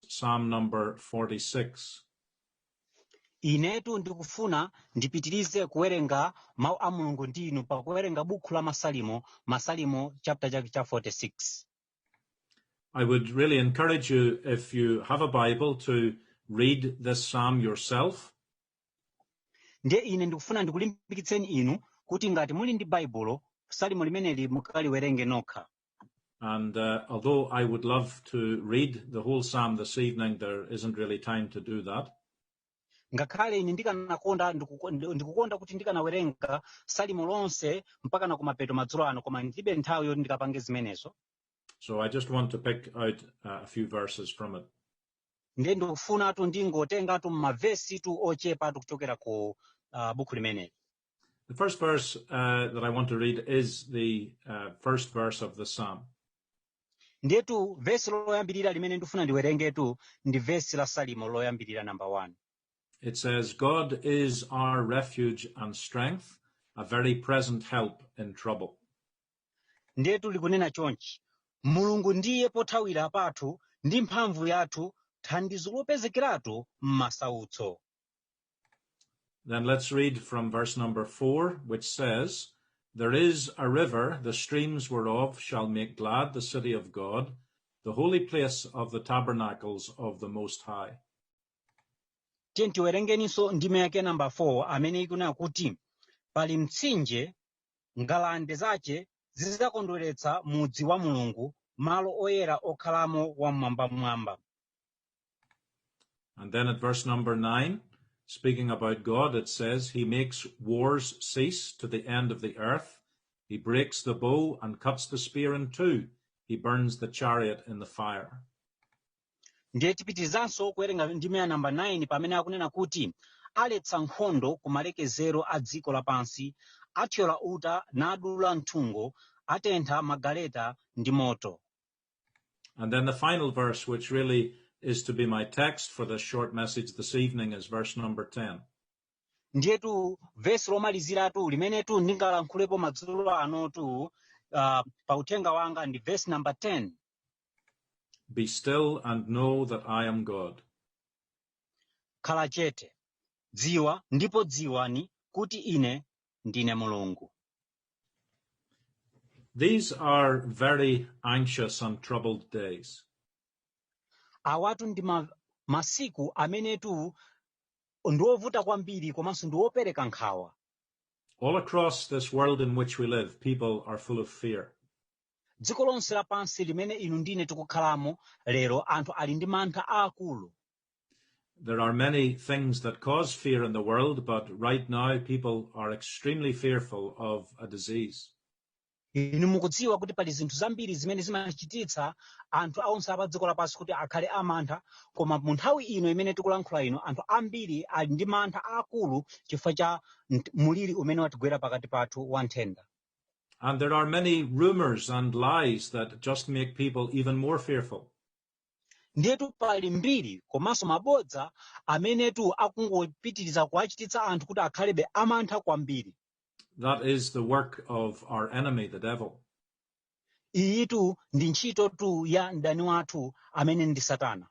Psalm number 46. inetu ndikufuna ndipitirize kuwerenga mawu a mulungu ndi inu pakuwerenga bukhu la masalimo masalimo chaputa chake cha 46 I would really encourage you, if you have a Bible, to read this psalm yourself. ndiye ine ndikufuna ndikulimbikitseni inu kuti ngati muli ndi baibulo salimo limeneli mukaliwerenge nokha Although I would love to read the whole psalm this evening, there isn't really time to do that. ngakhale ine ndikanakonda ndikuko- ndi- ndikukonda kuti ndikanawerenga salimo lonse mpaka na kumapeto madzulo ano koma ndilibe nthawi yoti ndikapange zimenezo So I just want to pick out uh, a few verses from it. ndiye ndikufunatu ndingotengatu mavesitu ochepatu kuchokera ku uh, bukhu limeneli The first verse uh, that I want to read is the uh, first verse of the psalm. ndiyetu vesi loyambirira limene ndifuna ndiwerengetu ndi vesi la salimo loyambirira namba 1 It says, God is our refuge and strength, a very present help in trouble. ndiyetu likunena chonchi mulungu ndiye pothawira pathu ndi mphamvu yathu thandizo lopezekeratu m'masautso Let's read from verse number four, which says, "There is a river, the streams whereof shall make glad the city of God, the holy place of the tabernacles of the Most High." tiyeni tiwerengenso ndime yake namba 4 amene ikunena kuti pali mtsinje ngalande zache zidzakondweretsa mudzi wa mulungu malo oyera okhalamo wam'mwambamwamba And then at verse number nine, speaking about God, it says, He makes wars cease to the end of the earth. He breaks the bow and cuts the spear in two. He burns the chariot in the fire. ndiye tipitirizanso kuwerenga ndime ya namba 9 pamene akunena kuti aletsa nkhondo ku malekezero a dziko lapansi athyola uta nadula nthungo atentha magaleta ndi moto The final verse, which really is to be my text for this short message this evening, is verse number 10. ndiyetu vesi lomaliziratu limenetu ndingalankhulepo madzulo anotu uh, pa uthenga wanga ndi vesi namba 10 Be still and know that I am God. khala chete dziwa ndipo dziwani kuti ine ndine mulungu These are very anxious and troubled days. awatu ndi masiku amenetu ndi ovuta kwambiri komanso ndi opereka nkhawa All across this world in which we live, people are full of fear. dziko lonse lapansi limene inu ndine tikukhalamo lero anthu ali ndi mantha aakulu There are many things that cause fear in the world, but right now people are extremely fearful of a disease. inu mukudziwa kuti pali zinthu zambiri zimene zimachititsa anthu onse a padziko lapansi kuti akhale amantha koma mu nthawi ino imene tikulankhula ino anthu ambiri ali ndi mantha aakulu chifukwa cha nt- muliri umene watigwera pakati pathu wa nthenda And there are many rumors and lies that just make people even more fearful. ndiyetu pali mbiri komanso mabodza amenetu akungopitiriza kuwachititsa anthu kuti akhalebe amantha kwambiri That is the work of our enemy, the devil. iyitu ndi ntchitotu ya mdani wathu amene ndi satana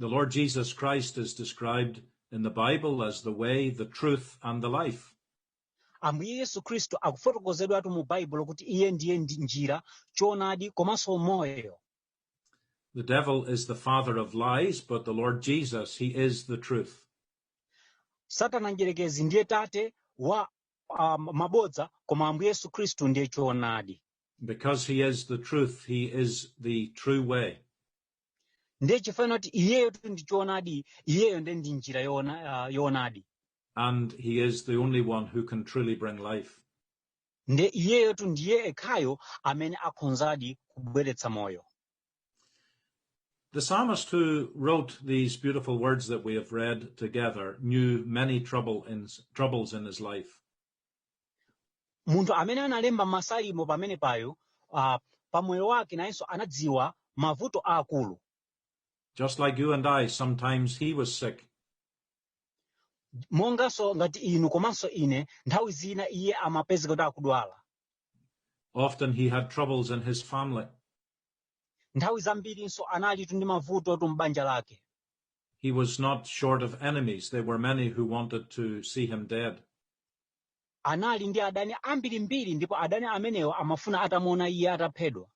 The Lord Jesus Christ is described in the Bible as the way, the truth, and the life. ambuye yesu khristu akufotokozedwatu mu baibulo kuti iye ndiye njira choonadi komanso moyo The devil is the father of lies, but the Lord Jesus, he is the truth. satana mdyerekezi ndiye tate wa uh, mabodza koma ambuye yesu khristu ndiye choonadi Because he is the truth, he is the true way. ndiye chifukwa kuti iyeyotu ndi choonadi iyeyo ndiye ndi njira yoona- ah, yoonadi And he is the only one who can truly bring life. nde iyeyotu ndiye ekhayo amene akhonzadi kubweretsa moyo The psalmist who wrote these beautiful words that we have read together knew many trouble in, troubles in his life. munthu amene analemba masalimo pamene payo uh, pamoyo wake nayenso anadziwa mavuto aakulu Just like you and I, sometimes he was sick. monganso ngati inu komanso ine nthawi zina iye amapezeka kuti akudwala Often he had troubles in his family. nthawi zambirinso analitu ndi mavutotu m'banja lake He was not short of enemies. There were many who wanted to see him dead. anali ndi adani ambirimbiri ndipo adani amenewo amafuna atamuona iye ataphedwa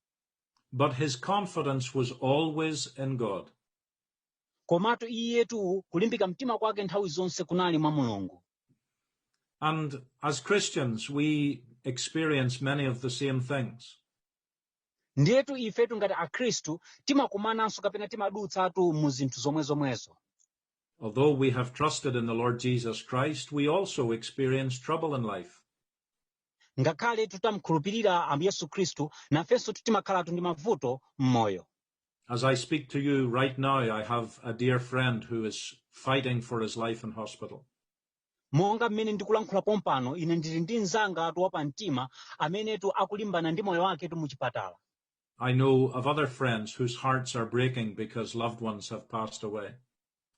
But his confidence was always in God. Komatu iyetu kulimbika mtima kwake nthawi zonse kunali mwa Mulungu. And as Christians, we experience many of the same things. Ndiyetu ifetu ngati Akhristu timakumananso kapena timadutsatu mu zinthu zomwe zomwezo. Although we have trusted in the Lord Jesus Christ, we also experience trouble in life. Ngakhale tutamkhulupirira Ambuye Yesu Khristu, nafensotu timakhalatu ndi mavuto m'moyo. As I speak to you right now, I have a dear friend who is fighting for his life in hospital. monga mmene ndikulankhula pompano ine ndili ndi mnzangatu wapamtima amenetu akulimbana ndi moyo waketu muchipatala I know of other friends whose hearts are breaking because loved ones have passed away.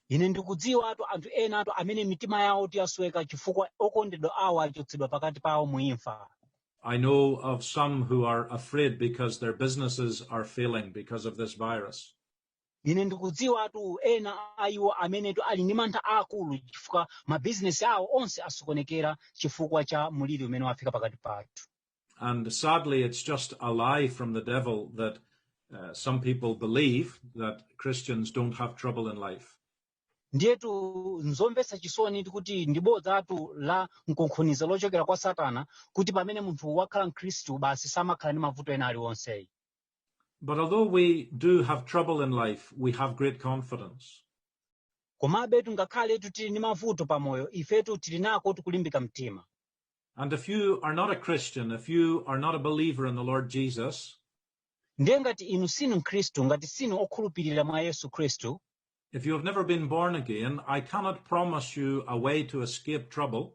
ine ndikudziwatu anthu enatu amene mitima yawotu yasweka chifukwa okondedwa awo achotsedwa pakati pawo mu imfa I know of some who are afraid because their businesses are failing because of this virus. ine ndikudziwatu ena a iwo amenetu ali ndi mantha aakulu chifukwa mabizinesi awo onse asokonekera chifukwa cha muliri umene wafika pakati pathu And sadly, it's just a lie from the devil that uh, some people believe that Christians don't have trouble in life. ndiyetu nzomvetsa chisoni kuti ndi bodzatu la mkunkhuniza lochokera kwa satana kuti pamene munthu wakhala mkhristu basi samakhala ndi mavuto ena aliwonseyi But although we do have trouble in life, we have great confidence. komabetu ngakhaletu tili ndi mavuto pamoyo ifetu tili nakotu kulimbika mtima And if you are not a Christian, if you are not a believer in the Lord Jesus, ndiye ngati inu sinu mkhristu ngati sinu okhulupirira mwa yesu khristu if you have never been born again, I cannot promise you a way to escape trouble.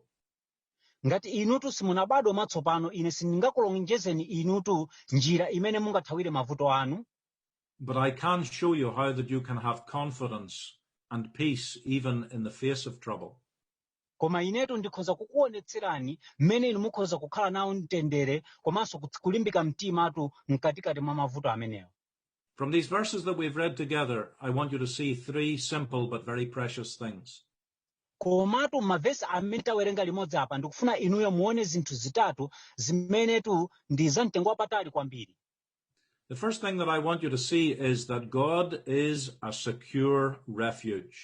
ngati inutu simunabadwa mwatsopano ine sindingakulonjezeni inutu njira imene mungathawire mavuto anu But I can show you how that you can have confidence and peace even in the face of trouble. koma inetu ndikhoza kukuonetserani mmene inu mukhoza kukhala nawo mtendere komanso kuts- kulimbika mtimatu mkatikati mwa mavuto amenewo From these verses that we've read together, I want you to see three simple but very precious things. komatu m'mavesi amene tawerenga limodzi apa ndikufuna inuyo muone zinthu zitatu zimenetu ndi za mtengo wapatali kwambiri The first thing that I want you to see is that God is a secure refuge.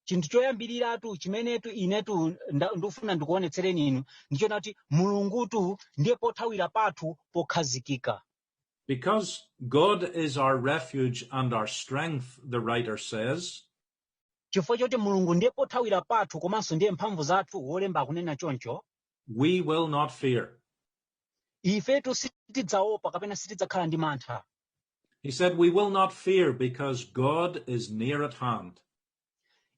chinthu choyambiriratu chimenetu inetu nda- ndikufuna ndikuonetsereni inu ndi chonena kuti mulungutu ndiye pothawira pathu pokhazikika Because God is our refuge and our strength, the writer says, chifukwa choti mulungu ndiye pothawira pathu komanso ndiye mphamvu zathu wolemba akunena choncho we will not fear. ifetu sitidzaopa kapena sitidzakhala ndi mantha He said, We will not fear because God is near at hand.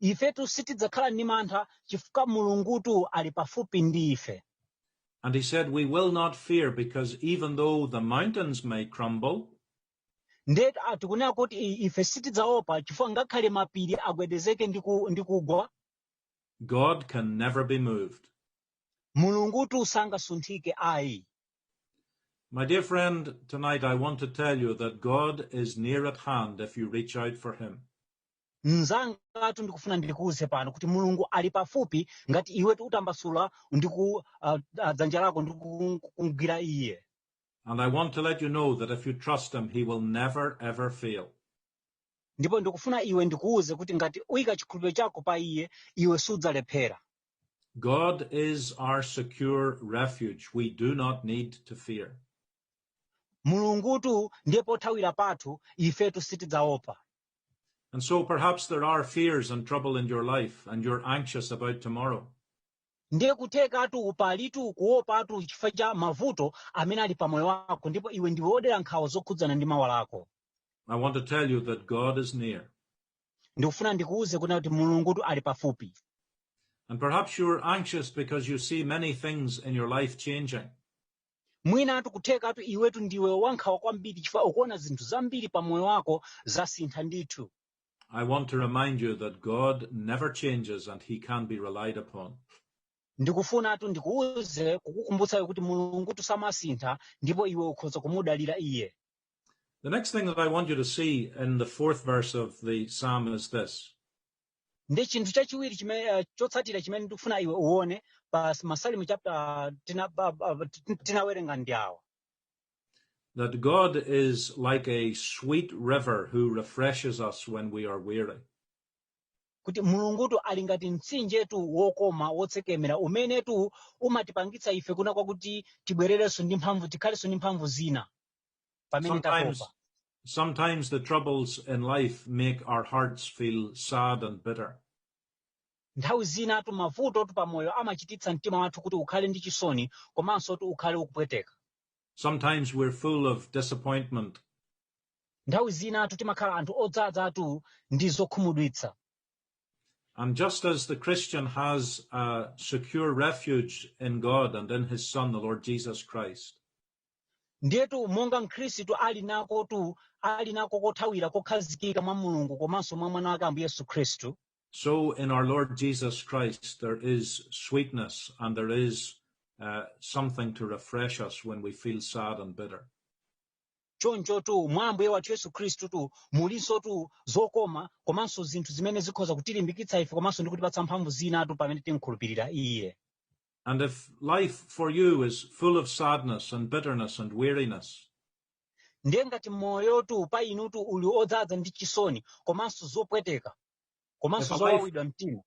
ifetu sitidzakhala ndi mantha chifukwa mulungutu ali pafupi ndi ife And he said, We will not fear because even though the mountains may crumble, nde ah, tikunena kuti i- ife sitidzaopa chifukwa ngakhale mapiri agwedezeke ndi ku- ndi kugwa God can never be moved. mulungutu sangasunthike ayi My dear friend, tonight I want to tell you that God is near at hand if you reach out for Him. mnzangatu ndikufuna ndikuuze pano kuti mulungu ali pafupi ngati iwe utatambasula ndi ku uh, uh, dzanja lako ndi ku- kumgwira iye And I want to let you know that if you trust Him, He will never ever fail. ndipo ndikufuna iwe ndikuuze kuti ngati uyika chikhulupiriro chako pa iye iwe sudzalephera God is our secure refuge. We do not need to fear. mulungutu ndiye pothawira pathu ifetu sitidzaopa And so perhaps there are fears and trouble in your life and you're anxious about tomorrow. ndiye kuthekatu palitu kuopatu chifukwa cha mavuto amene ali pamoyo wako ndipo iwe ndiwe wodera nkhawa zokhudzana ndi mawa lako I want to tell you that God is near. ndikufuna ndikuwuze kunena kuti mulungutu ali pafupi And perhaps you're anxious because you see many things in your life changing. mwinatu kuthekatu iwetu ndiwe wankhawa kwambiri chifukwa ukuona zinthu zambiri pa moyo wako zasintha ndithu I want to remind you that God never changes and he can be relied upon. ndikufunatu ndikuwuze kukukumbutsako kuti mulungutu samasintha ndipo iwe ukhoza kumudalira iye The next thing that I want you to see in the fourth verse of the psalm is this ndi chinthu chachiwiri chimene eh, chotsatira chimene ndikufuna iwe uone pa s- masalimo chapter tina- ba- ba- tin- tinawerenga ndi awa that God is like a sweet river who refreshes us when we are weary. kuti mulungutu ali ngati mtsinjetu wokoma wotsekemera umenetu umatipangitsa ife kunena kwakuti tibwererenso ndi mphamvu tikhalenso ndi mphamvu zina pamene Sometimes, tatopa sometimes the troubles in life make our hearts feel sad and bitter. nthawi zinatu mavutotu pamoyo amachititsa mtima wathu kuti ukhale ndi chisoni komanso kuti ukhale ukupweteka Sometimes we're full of disappointment. nthawi zinatu timakhala anthu odzadzatu ndi zokhumudwitsa And just as the Christian has a secure refuge in God and in his Son, the Lord Jesus Christ, ndiyetu monga mkhristu ali nakotu ali nako kothawira kokhazikika mwa mulungu komanso mwa mwana wake ambuye yesu khristu So in our Lord Jesus Christ, there is sweetness and there is uh, something to refresh us when we feel sad and bitter. chonchotu mwa ambuye wathu yesu khristutu mulinsotu zokoma komanso zinthu zimene zikhoza kutilimbikitsa ife komanso ndi kutipatsa mphamvu zinatu pamene timukhulupirira iye And if life for you is full of sadness and bitterness and weariness, ndiye ngati moyotu pa inutu uli odzadza ndi chisoni komanso zopweteka komanso If a life- zowawidwa mtima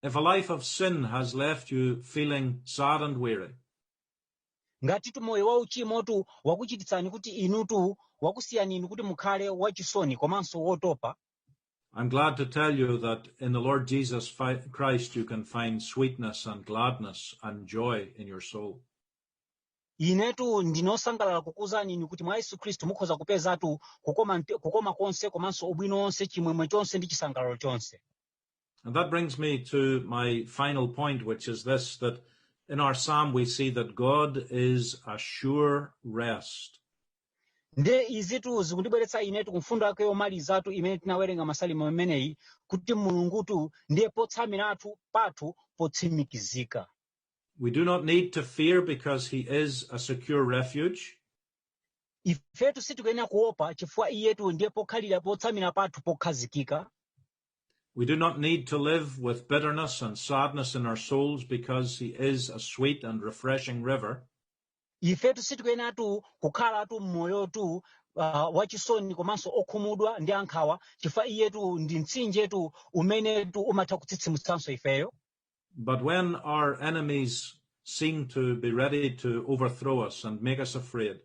if a life of sin has left you feeling sad and weary, ngatitu moyo wa uchimotu wakuchititsani kuti inutu wakusiyani inu kuti mukhale wachisoni komanso wotopa I'm glad to tell you that in the Lord Jesus Christ you can find sweetness and gladness and joy in your soul. inetu ndine osangalala kukuuzani inu kuti mwa yesu khristu mukhoza kupezatu kukoma, mte- kukoma konse komanso ubwino wonse chimwemwe chonse ndi chisangalalo chonse And that brings me to my final point, which is this, that in our psalm we see that God is a sure rest. ndiye izitu zikundibweretsa inetu ku mfundo yake yomalizatu imene tinawerenga m'masalimo ameneyi kuti mulungutu ndiye potsamiratu pathu potsimikizika We do not need to fear because he is a secure refuge. ifetu sitikuyenera kuopa chifukwa iyetu ndiye pokhalira potsamira pathu pokhazikika We do not need to live with bitterness and sadness in our souls because he is a sweet and refreshing river. ifetu sitikuyenatu kukhalatu mmoyotu uh, wachisoni komanso okhumudwa ndi ankhawa chifukwa iyetu ndi mtsinjetu umenetu umatha kutsitsimutsanso ifeyo But when our enemies seem to be ready to overthrow us and make us afraid,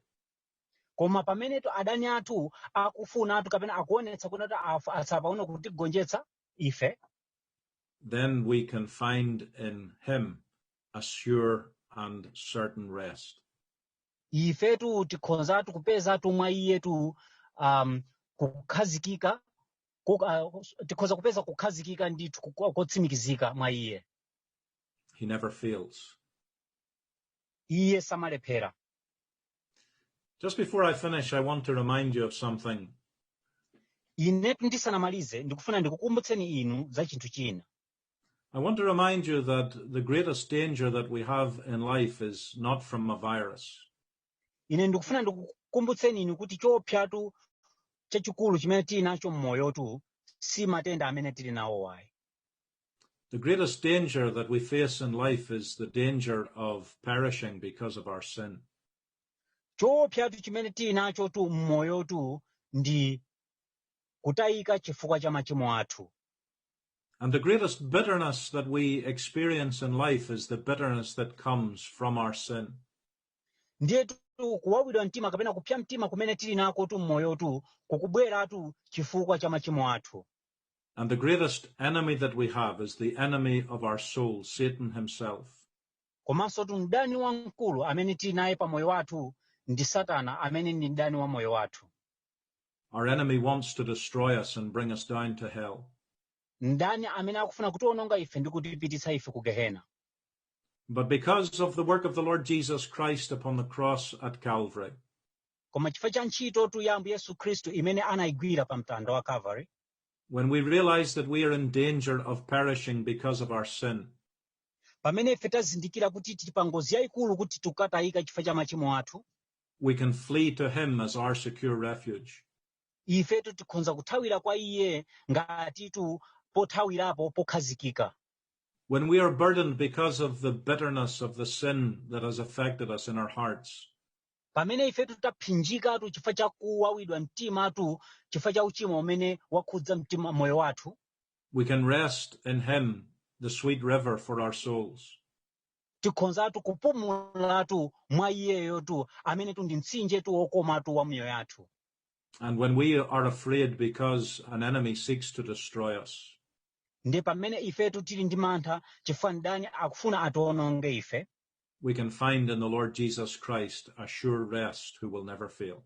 koma pamenetu adani athu akufunatu kapena akuonetsa kuti afu- atsala pang'ono kutigonjetsa ife then we can find in Him a sure and certain rest. ifetu tikhozatu kupezatu mwa iyetu um, kukhazikika ku- uh, tikhoza kupeza kukhazikika ndithu ku- kotsimikizika mwa iye He never fails. iye samalephera Just before I finish, I want to remind you of something. inetu ndisanamalize ndikufuna ndikukumbutseni inu za chinthu china I want to remind you that the greatest danger that we have in life is not from a virus. ine ndikufuna ndikukumbutseni inu kuti chopsyatu chachikulu chimene tili nacho mmoyotu si matenda amene tili nawo ayi The greatest danger that we face in life is the danger of perishing because of our sin. chopsyatu chimene tinachotu mmoyotu ndi kutayika chifukwa cha machimo athu And the greatest bitterness that we experience in life is the bitterness that comes from our sin. ndiyetu kuwawidwa mtima kapena kupsya mtima kumene tili nakotu m'moyotu kukubweratu chifukwa cha machimo athu And the greatest enemy that we have is the enemy of our soul, Satan himself. komansotu mdani wamkulu amene tili naye pa moyo wathu ndi satana amene ndi mdani wa moyo wathu Our enemy wants to destroy us and bring us down to hell. mdani amene akufuna kutiwononga ife ndi kutipititsa ife ku gehena But because of the work of the Lord Jesus Christ upon the cross at Calvary, koma chifukwa cha ntchitotu ya ambuye yesu khristu imene anayigwira pa mtanda wa calvary when we realize that we are in danger of perishing because of our sin, pamene ife tazindikira kuti tili pa ngozi yaikulu kuti tikatayika chifukwa cha machimo athu We can flee to him as our secure refuge. ifetu tikhonza kuthawira kwa iye ngatitu pothawirapo pokhazikika When we are burdened because of the bitterness of the sin that has affected us in our hearts, pamene ifetu tapsyinjikatu chifukwa cha kuwawidwa mtimatu chifukwa cha uchimo umene wakhudza mtima moyo wathu we can rest in him, the sweet river for our souls. tikhonzatu kupumulatu mwa iyeyotu amenetu ndi mtsinjetu wokomatu wa miyoyo yathu And when we are afraid because an enemy seeks to destroy us, ndiye pamene ifetu tili ndi mantha chifukwa mdani akufuna atiwononge ife we can find in the Lord Jesus Christ a sure rest who will never fail.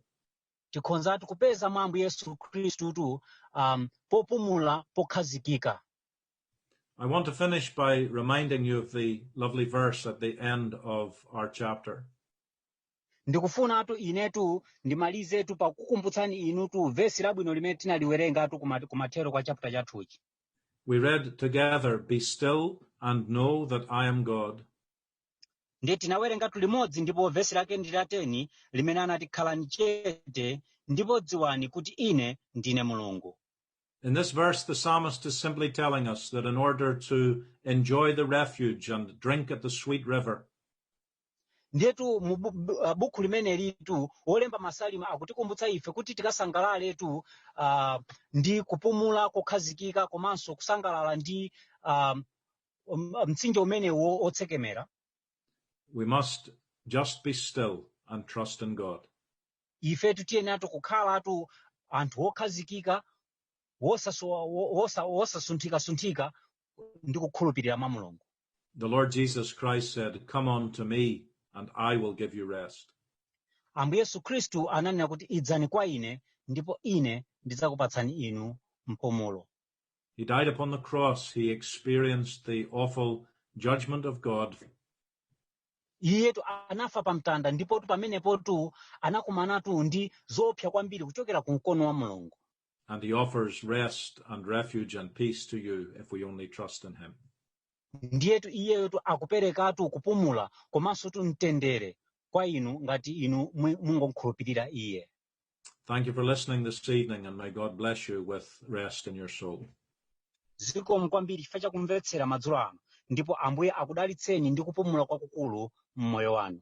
tikhonzatu kupeza mwa ambuye yesu khristutu um, popumula pokhazikika I want to finish by reminding you of the lovely verse at the end of our chapter. ndikufunatu inetu ndimalizetu pakukumbutsani inutu vesi labwino limene tinaliwerengatu kuma- kumathero kwa chaputala chathuchi We read together, Be still and know that I am God. ndiye tinawerengatu limodzi ndipo vesi lake ndi la 10 limene anati khalani chete ndipo dziwani kuti ine ndine mulungu In this verse, the psalmist is simply telling us that in order to enjoy the refuge and drink at the sweet river, ndiyetu mu bu- bu- ah, buku limenelitu wolemba masalimo akutikumbutsa ife kuti tikasangalaletu ah, ndi kupumula kokhazikika komanso kusangalala ndi ah, um, mtsinje umene wotsekemera we must just be still and trust in God. ifetu tiyeneratu kukhalatu anthu okhazikika wosasowa- wo- wosa- wosasunthikasunthika ndi kukhulupirira mwa mulungu The Lord Jesus Christ said, Come unto me, and I will give you rest. ambuye yesu khristu ananena kuti idzani kwa ine ndipo ine ndidzakupatsani inu mpumulo He died upon the cross. He experienced the awful judgment of God iyetu anafa pa mtanda ndipotu pamenepotu anakumanatu ndi zoopsa kwambiri kuchokera ku mkono wa mulungu And he offers rest and refuge and peace to you if we only trust in him. ndiyetu iyeyotu akuperekatu kupumula komansotu mtendere kwa inu ngati inu mwe- mungomkhulupirira iye Thank you for listening this evening, and may God bless you with rest in your soul. zikomo kwambiri chifukwa chakumvetsera madzulo ano ndipo ambuye akudalitseni ndi kupumula kwakukulu m'moyo wanu